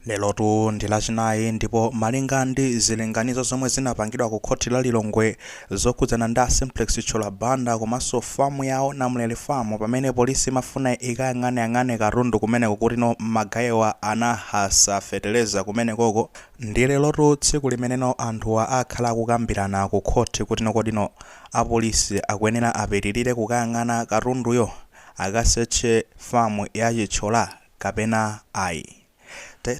Lelotu ndi lachinayi ndipo malinga ndi zilinganizo zomwe zinapangidwa ku khothi la Lilongwe zokhudzana ndi a Simplex Chithyola Banda komanso farm yawo Namulele Farm pamene polisi imafuna ikayang'aneyang'ane katundu kumeneko kuti no magayewa anahasula fetereza kumenekoko ndi lelotu tsiku limene no anthuwa akhala akukambirana ku khothi kuti no kodi no a police akuyenera apitilire kukayang'ana katunduyo akasearche farm ya Chithyola kapena ayi.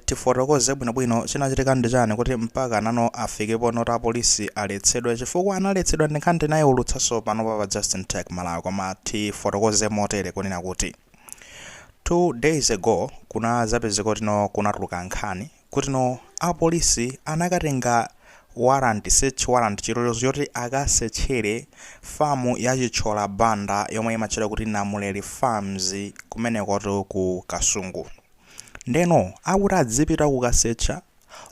Tifotokoze bwino bwino chinachitika ndi chani kuti mpaka nano afike ponoti apolisi aletsedwe chifukwa analetsedwa ndi nkhani tinayiwulutsanso panopa pa Justin Tech Malawi koma tifotokoze motere kunena kuti two days ago kunazapezeka kuti no kunatuluka nkhani Kutino apolisi anakatenga warrant, search warrant, chilolezo choti akasetchere farm ya Chithyola Banda yomwe imatchedwa kuti Namuleri Farms kumenekotu ku Kasungu. Ndeno akuti adzipita kukasetcha,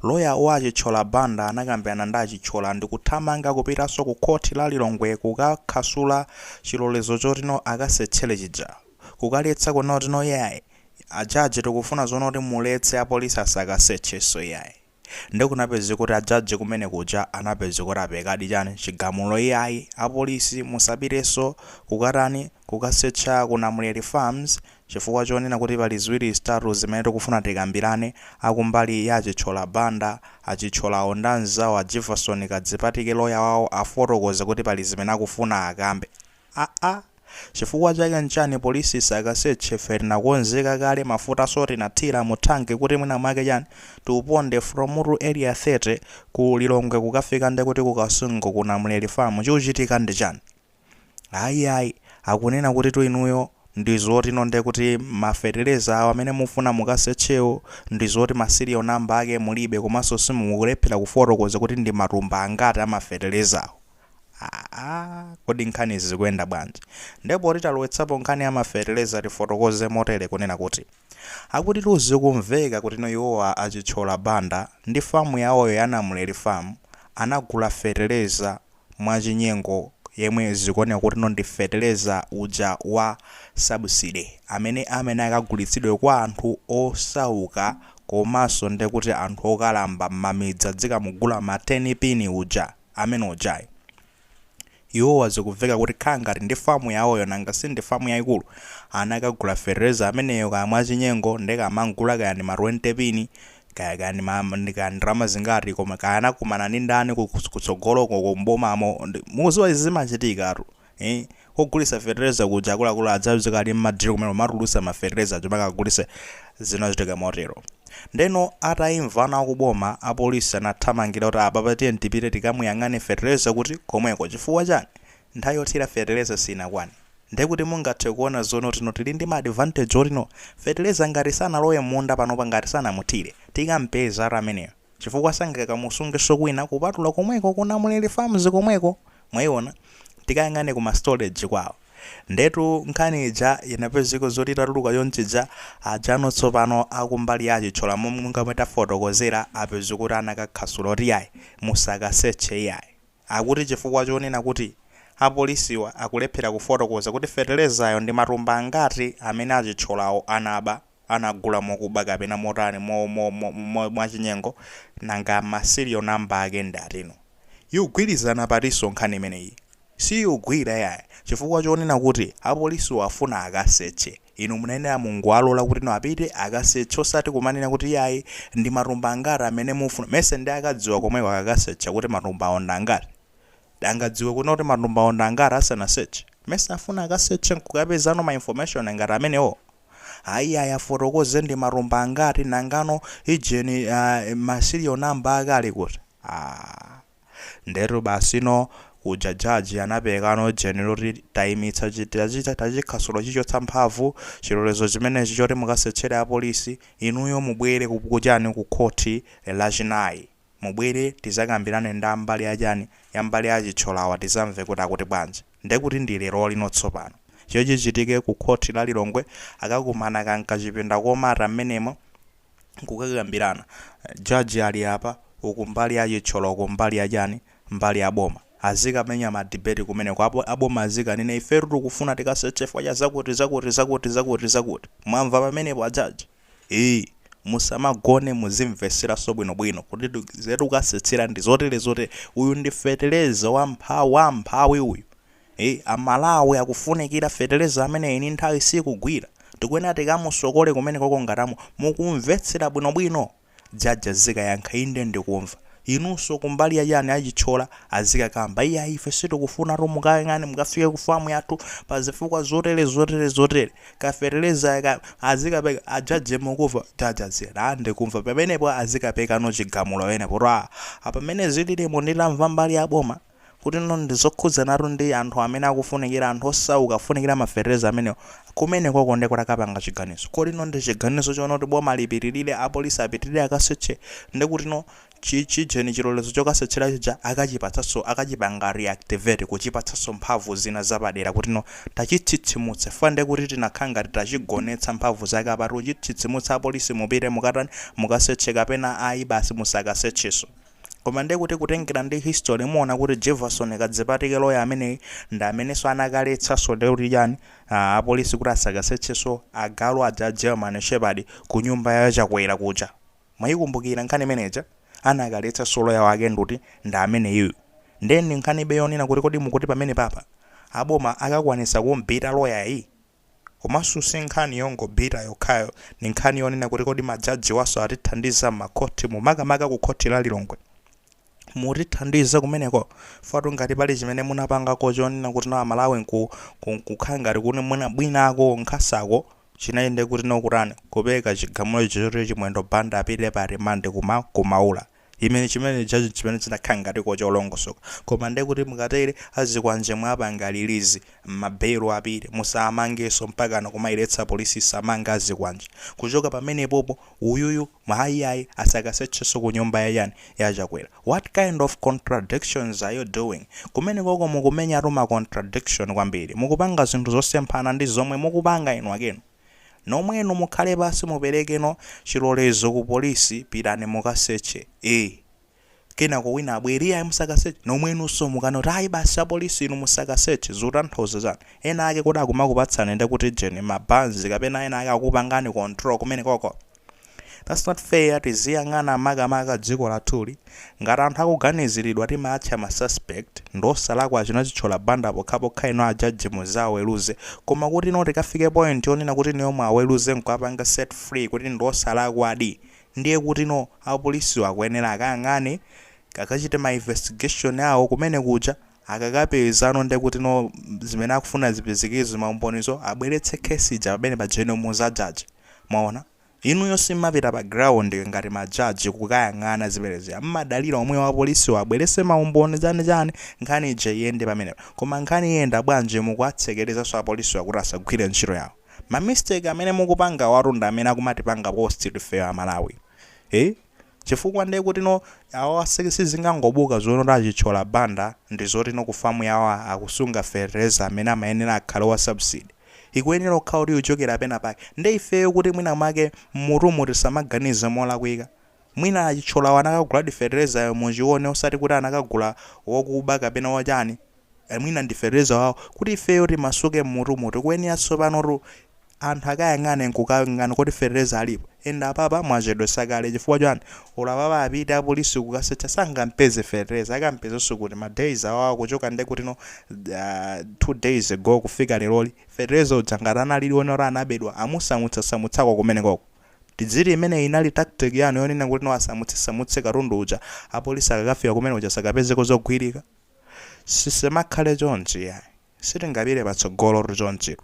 lawyer wa a Chithyola Banda anakambirana ndi a Chithyola ndikuthamanga kupitaso ku court la Lilongwe kukakhasula chilolezo chotino akasetchere chija, kukaletsa kunena kutino yayi, A judge tikufuna zonena kuti muletse a police asakasearchenso iyayi nde kunapezeka kuti a judge kumene kuja anapezeka kuti aperekadi chani chigamulo iyayi a police musapitenso kukatani kukasearcha ku Namuleri farms chifukwa chonena kuti pali ziwiri zitatu zimene tikufuna tikambirane akumbali ya a Chithyola Banda a Chithyolawo ndi anzawo a Jefferson Kadzipatike lawyer wawo afotokoze kuti pali zimene akufuna akambe aa chifukwa chake nchani police isakaseche ife tinakonzeka kale mafutaso tinathira mu tank kuti mwina mwake chani tiuponde from mu area 30 ku lilongwe kukafika nde kuti ku kasungu ku namuleri farm chikuchitika ndi chani ayi ayi akunena kutitu inuyo ndizotino nde kuti ma fetereza awo amene mufuna mukasechewo ndizoti ma serial number ake mulibe komanso mukulephera kufotokoza kuti ndi matumba angati a ma fetelezawo Aaa kodi nkhanizi zikuyenda bwanji? Nde poti talowetsapo nkhani ya ma feteleza tifotokoze motere kunena kuti akutitu zikumveka kutino iwowa a Chithyola Banda ndi farm yawoyo ya Namuleri farm anagula feteleza mwa chinyengo yemwe zikuoneka kutino ndi feteleza uja wa subsidy amene amene akagulitsidwe kwa anthu osauka komaso ndi kuti anthu okalamba m'mamidzi adzikamugula ma ten pin uja. amene ujayi. Iwowa zikuveka kuti khala ngati ndi farm yawoyo nanga sindi farm yaikulu? Anakagula fetereza ameneyo kaya mwachinyengo nde kumamugula kaya ndi ma 20 pin kaya kaya ndi ma ndi kaya ndalama zingati koma kaya anakumana ndi ndani kutsogoloko uko m'bomamo mukudziwa izi zimachitikatu. Eeh kogulisa fetereza kuja akuluakulu adzapezeka ali mma deal kumene kumatulutsa ma fetereza aja mpaka agulise zinachitika motero. Ndeno ataimva ana akuboma apolisi anathamangira kuti apapa tiyeni tipite tikamuyang'ane fetereza kuti komweko chifukwa chani nthawi yothira fetereza sinakwane ndekuti mungathe kuona zoona kuti no tili ndi ma advantage oti no fetereza ngati sanalowe mmunda panopa ngati sanamuthire tikampezatu ameneyo. chifukwa sangakamusungenso kwina kupatula komweko ku Namulele Farms komweko, mwaiona? Tikayang'ane ku ma storage kwawo. Ndetu nkhani ija inapezeka zoti itatuluka chonchija, ajanu tsopano a kumbali ya a Chithyola monga momwe tafotokozera apezeka kuti anakakhasula kuti iyayi, musakasetche iyayi. Akuti chifukwa chonena kuti apolisiwa akulephera kufotokoza kuti fetelezayo ndi matumba angati amene a Chithyolawo anaba. anagula mokuba kapena motani mo mo mo mo mwachinyengo nanga ma serial number ake ndi atino? Yugwilizana patinso nkhani imeneyi siyugwira yayi chifukwa chonena kuti apolisiwo afuna akasetche inu munayenera mungowalola kutino apite akasetche osati kumanena kuti iyayi ndi matumba angati amene mufuna mesa nde akadziwa komweko akakasetcha kuti matumbawo ndi angati? Angadziwe kutino kuti matumbawo ndi angati asanasetche? Mesa afuna akasetche nkukapezano ma information ngati amenewo? Ayi ayi afotokoze ndi matumba angati nangano ijeni uh, ma serial number ake ali kuti ah. ndetu basino uja jaji anapekano jeni loti taimitsa chi- tachita- tachikhasula tachichotsa mphamvu chilolezo chimenechi choti mukasetchere apolisi inuyo mubwere ku- kuchani ku khoti lachinayi mubwere tizakambirane ndi mbali yachani ya mbali ya a Chithyola awa tizamve kuti akuti bwanji ndekuti ndi lerolino tsopano chomwe chichitike ku khothi la Lilongwe akakumana ka mkachipinda komata mmenemo nkukakambirana judge ali apa uku mbali ya Chithyola uku mbali ya chani mbali ya boma azikamenya ma debate kumeneko apo aboma azikanena ifetu tikufuna tikasetche chifukwa cha zakuti zakuti zakuti zakuti zakuti mwamva pamenepo a judge ii musamagone muzimvetseranso bwino bwino kuti ifetu tikasetchera ndi zotere zotere uyu ndi feteleza wa mpha wa mphawi uyu ii amalawi akufunikira feteleza ameneyu nthawi sikugwira tikuyenera tikamusokole kumeneko ko ngatamu mukumvetsera bwino bwino Judge azikayankha inde ndikumva. Inunso kumbali ya chani a Chithyola azikakamba iyayi ife sitikufunatu mukayang'ane mukafike ku farm yathu pa zifukwa zotere zotere zotere. Ka fertilizer aka azikapeka a judge mukumva? Judge azinena ah ndikumva pamenepo azikapekano chigamulo pamenepo kuti ah pamene zililimu nditamva mbali ya boma. kutino ndi zokhudzanatu ndi anthu amene akufunikira, anthu osauka afunikira mafertilizer amenewo. Kumenekoko ndiye kuti akapanga chiganizo. Kodi ndi chiganizo choonena kuti boma lipitirire, apolisi apitirire akaseche, ndi kutino chi, chijeni chilolezo chokasetchera chija akachipatsanso, akachipanga reactivate, kuchipatsanso mphamvu zina zapadera kutino tachitsitsimutsa chifukwa ndiye kuti tinakhala ngati tachigonetsa mphamvu zake. Apatu kuchitsitsimutsa, apolisi mupite mukatani, mukaseche kapena ayi basi musakasetchenso. Koma ndiye kuti kutengera ndi history muona kuti Jefferson Kadzipatike lawyer ameneyi ndi amenenso anakaletsanso ndiye kuti chani ah, apolisi kuti asakasetchenso agalu aja a German Shepherd ku nyumba ya Chakwera kuja. Mwayikumbukira nkhani imeneja? Anakaletsanso lawyer wake nduti ndi ameneyu. Ndiye ndi nkhanibe yonena kuti kodi mukuti pamenepapa aboma akakwanitsa kum'beat-a lawyer yi? Komanso si nkhani yongobita yokhayo, ndi nkhani yonena kuti kodi majajiwanso atithandiza m'makhothimu, makamaka ku khoti la Lilongwe. Mutithandiza kumeneko chifukwa ngati pali chimene munapangako chonena kuti no Amalawi nku, ku, nkukhala ngati kuti mwina, bwinoko nkhasako chinali ndi kuti no kutani, kupereka chigamulo icho choti Chimwendo Banda apite pa rimandi kuma, ku Maula. Imene chimene judge chimene chinakhala ngatiko cholongosoka koma nde kuti mukatere azikwanje mwapanga release ma bail apite musamangenso mpakana kumailetsa police isamange azikwanje kuchoka pamenepopo uyuyu ayi ayi asakasetchenso kunyumba ya chani ya chakwera what kind of contradictions are you doing kumenekoko mukumenyatu ma contradiction kwambiri mukupanga zinthu zosemphana ndi zomwe mukupanga inu akenu nomwenu mukhale pansi mupereke no chilolezo ku police pitani mukaseche ee kenako wina abwere iyayi musakaseche nomwenunso mukanene kuti ayi basi apolisi inu musakaseche zikutanthauza chani? ena ake kodi akumakupatsani nde kuti jeni ma banzi kapena ena ake akukupangani control kumenekoko? That's not fair tiziyang'ana makamaka dziko lathuli ngati anthu akuganiziridwa timaatcha ma suspect ndiosalakwa a China Chitchola Banda pokhapokha inu a judge muzaweluze koma kuti no tikafike point yonena kuti inuyo muwaweluze nkuwapanga set free kuti ndiosalakwadi ndiye kuti no apolisiwo akuyenera akayang'ane akachite ma investigation awo kumene kuja Akakapezano ndekutino zimene akufuna zipezekozo maumbonizo abweretse case ija pamene paja inu muza judge mwaona. Inuyo simmapita pa ground ngati ma judge kukayang'ana zimene zija mmadalira omwewo a police wo abwerese maumboni chani chani nkhani ija iyende pamenepa. Koma nkhani iyenda bwanji mukuwatsekerezaso a police wa kuti asagwire ntchito yawo. Ma mistake amene mukupangawatu ndi amene akumatipanga cost ifeyo a Malawi. Eeh? chifukwa nde kutino awa si sizingangobuka zonena kuti a Chithyola Banda ndizotino ku farm yawo akusunga fetereza amene amayenera akhale wa subsidy ikuyenera kukhala kuti ikuchokera pena pake nde ifeyo kuti mwina mwake mmutumu tisamawaganizire molakwika mwina a Chithyolawo anakaguladi feterezayo m'choona osati kuti anakagula wokuba kapena wochani e mwina ndi fetereza wawo kuti ifeyo timasuke mmutumu tikuyenera tsopano anthu akayang'ane nkukayang'ana kuti fertilizer alipo and apapa mwachedwetsa kale chifukwa chani olo apapa apita apolisi kukasetcha sangampeze fertilizer akampezenso kuti ma days awowo kuchoka nde kutino uh, two days ago kufika leroli fertilizer uja ngati analidi ona woti anabedwa amusamutsasamutsako kumenekoko tidziti imeneyi inali tactic yanu yonena kuti no asamutse asamutse katundu uja apolisi akakafika kumene uja asakapezeko zogwirika Tisamakhale chonchi yayi. Sitingapite patsogolotu chonchitu.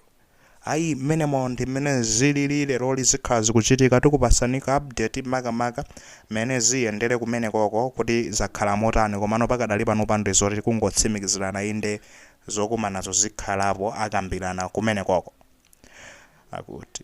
Ayi mmenemo ndi mmene zilili leroli zikhala zikuchitika tikupasaniko update makamaka mmene ziyendere kumenekoko kuti zakhala motani komano pakadali panopa nde zoti kungotsimikizirana inde zokumanazo zikhalapo akambirana kumenekoko. Akuti.